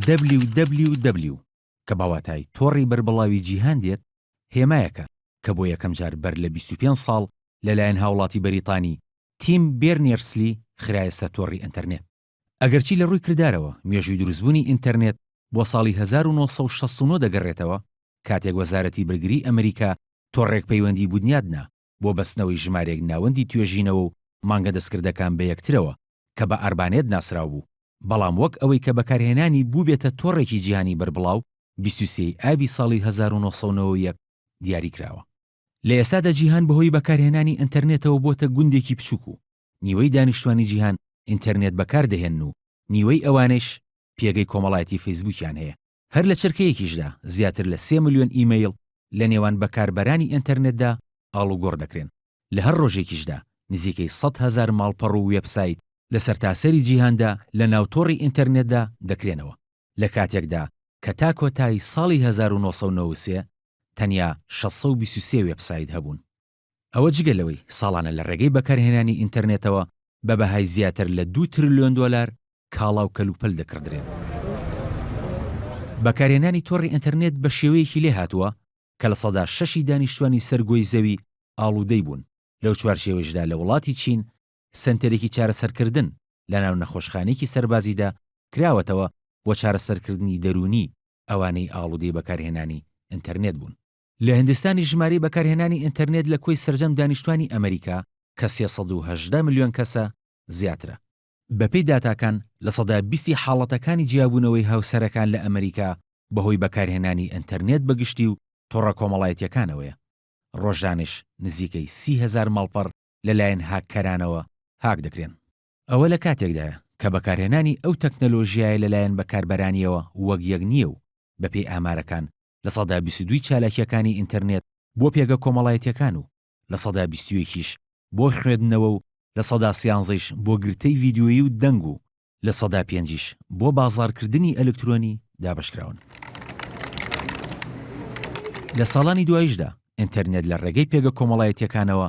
www کە بە واتای تۆڕی بەربڵاوی جیهان دێت، هێمایەکە کە بۆ یەکەم جار بەر لە بیست و پێنج ساڵ لەلایەن هاوڵاتی بەریتانی تیم بێرنێرسلی خرایە سەر تۆڕی ئینتەرنێت. ئەگەرچی لە ڕووی کردارەوە مێژووی دروستبوونی ئینتەرنێت بۆ ساڵی هەزار و نۆ سەد و شەست و نۆ دەگەڕێتەوە، کاتێک وەزارەتی بەرگریی ئەمریکا تۆڕێک پەیوەندی بوونیاد نا بۆ بەستنەوەی ژمارێک ناوەندی توێژینەوە و مانگە دەستکردەکان بە یەکترەوە، کە بە ئاربانێت ناسراو بوو، بەڵام وەک ئەوەی کە بەکارهێنانی بووبێتە تۆڕێکی جیهانی بەربڵاو، بیست و سێ ی ئابی ساڵی هەزار و نۆ سەد و نەوەد و یەک دیاریکراوە. لە ئێستادا جیهان بەهۆی بەکارهێنانی ئەنتەرنێتەوە بۆتە گوندێکی بچووک و نیوەی دانیشتوانی جیهان ئینتەرنێت بەکار دەهێنن و نیوەی ئەوانەیش پێگەی کۆمەڵایەتی فەیسبووکیان هەیە. هەر لە چرکەیەکیشدا زیاتر لە سێ ملیۆن ئیمەیڵ لە نێوان بەکاربەرانی ئێنتەرنێتدا ئاڵوگۆڕ دەکرێن. لە هەر ڕۆژێکیشدا نزیکەی سەد هەزار ماڵپەڕ و وێبسایت لە سەرتاسەری جیهاندا لە ناو تۆڕی ئینتەرنێتدا دەکرێنەوە. لە کاتێکدا کە تا کۆتایی ساڵی هەزار و نۆ سەد و نەوەد و سێ تەنیا شەش سەد و بیست و سێ وێبسایت هەبوون. ئەوە جگە لەوەی ساڵانە لە ڕێگەی بەکارهێنانی ئینتەرنێتەوە بە بەهای زیاتر لە دوو ترلیۆن دۆلار کاڵا و کەلوپەل دەکڕدرێن. بەکارهێنانی تۆڕی ئینتەرنێت بە شێوەیەکی لێهاتووە کە لە سەدا شەشی دانیشتووانی سەر گۆی زەوی ئاڵوودەی بوون، لەو چوارچێوەیشدا لە وڵاتی چین سەنتەرێکی چارەسەرکردن لە ناو نەخۆشخانەیەکی سەربازیدا کراوەتەوە بۆ چارەسەرکردنی دەروونی ئەوانەی ئاڵوودەی بەکارهێنانی ئینتەرنێت بوون. لە هندستانیش ژمارەی بەکارهێنانی ئینتەرنێت لە کۆی سەرجەم دانیشتوانی ئەمەریکا کە سێ سەد و هەژدە ملیۆن کەسە، زیاترە. بەپێی داتاکان، لە سەدا بیستی حاڵەتەکانی جیابوونەوەی هاوسەرەکان لە ئەمەریکا بەهۆی بەکارهێنانی ئینتەرنێت بە گشتی و تۆڕە کۆمەڵایەتییەکانەوەیە. ڕۆژانەش نزیکەی سی هەزار ماڵپەڕ لەلایەن هاککەرانەوە هاک دەکرێن. ئەوە لە کاتێکدایە کە بەکارهێنانی ئەو تەکنەلۆژیایە لەلایەن بەکاربەرانییەوە وەک یەک نییە و بەپێی ئامارەکان لە سەدا بیست و دووی چالاکییەکانی ئینتەرنێت بۆ پێگە کۆمەڵایەتییەکان و لە سەدا بیست و یەکیش بۆ خوێدنەوە و لە سەدا سیانزەیش بۆ گرتەی ڤیدیۆیی و دەنگ و لە سەدا پێنجیش بۆ بازاڕکردنی ئەلکترۆنی دابەشکراون. لە ساڵانی دواییشدا ئینتەرنێت لە ڕێگەی پێگە کۆمەڵایەتییەکانەوە